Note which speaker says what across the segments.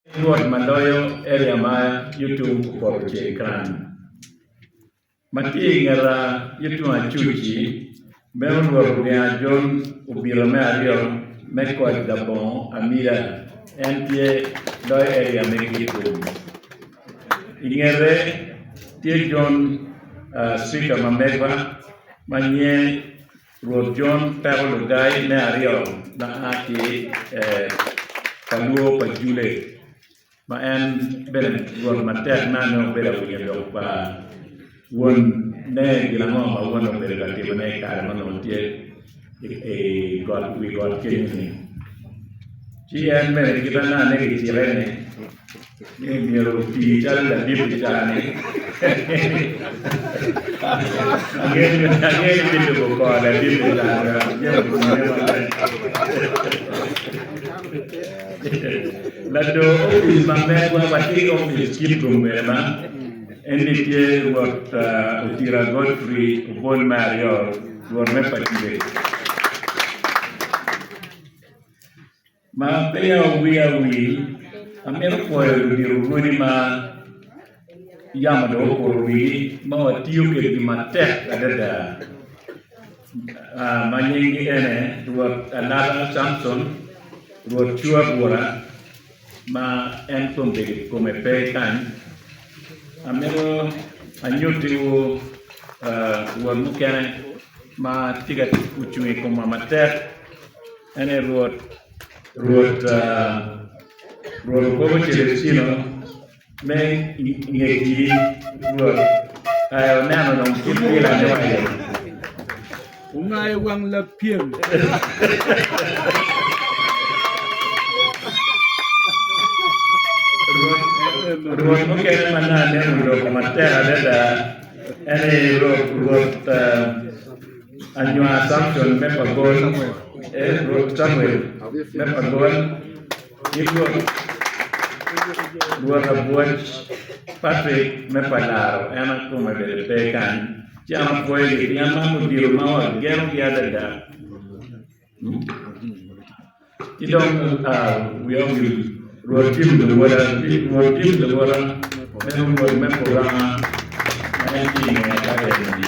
Speaker 1: Edward ma loyo eria ma yo tung kupoto ceng kan ma tye i ngeta yo tung acuc-ci, meno Rwot Oginga Jon obito me aryo me koc labongo amida, en tye loyo eria me Gitgum. I ngete tye Jon, Cika ma megwa ma nyiye. Rwot John Peko Lugai me aryo ma a ki ka lwor pa Jule, ma en bene rwot matek ma nongo obedo awinya dok pa won ne gin ango ma won obedo ka timone i kare ma nongo tye i wi got kenyo ni. Ci en bene kite anane gicike ni. ni myero oti calo ladit i cal-li. Angeyo ni bilubo kor ladit i cal-li. Lado opic ma megwa ma tye ki opic cik Gombela en-ni tye Rwot uh, Otira Godfrey Obol me aryo, Rwot me Pacific. Ma peya owiya wil, amito pwoyo ludito odi ma yamo dong okuto wigi ma watiyo kwedgi matek adada ma nyinggi ene Rwot Alata Samson, Rwot Cua Bura ma en kom bedo kome pe kany. Amito anyutiwu Rwot mukene ma tye ka ocung i komwa matek. En aye Rwot, Rwot okobo Celestino me ngecgi, Rwot aye oneno dong kit wilane wa iye.
Speaker 2: Wungayo wang lapyem.
Speaker 1: Rwot mukene ma nane oloko matek adada en aye Rwot, Anywar Samson me pa Gol, ee, Rwot Camuel me pa Gol, ki Rwot, Rwot abwoc Patrick me pa Laro, en a kome bene pe kany, ci an apwoyogi pien man odiro ma wagenogi adada. Ci dong wiya owil, Rwot cimo lawoda me wot me puranga ma en tye i ngeye ka eni-ni,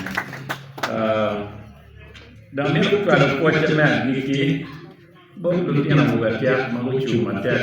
Speaker 1: dok ni gucwalo pwocce me agikki bot lutino awobe atyek ma gucung matek.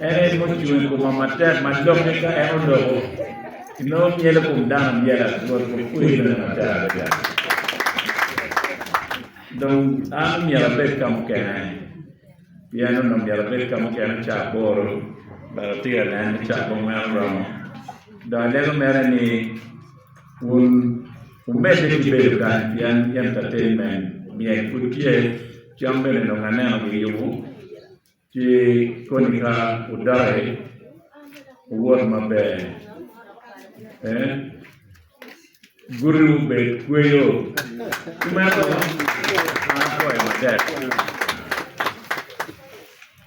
Speaker 1: En aye ma ocung i koma matek ma lokke ka en oloko inongo myelo kom dano myel atur ki kwer bene matek adada. Dong an omyero abed ka mukene pien onongo myero abed ka mukene caa aboro but atye ka neno ni caa bong meno romo. Dong alego mere ni wun wumedde ki bedo kany pien entertainment myel pud tye, cam bene onongo aneno giyubo Ci koni ka wudaki wuwot maber, pien gutiwu bed kweyo. Kumeno, an akwayo matek.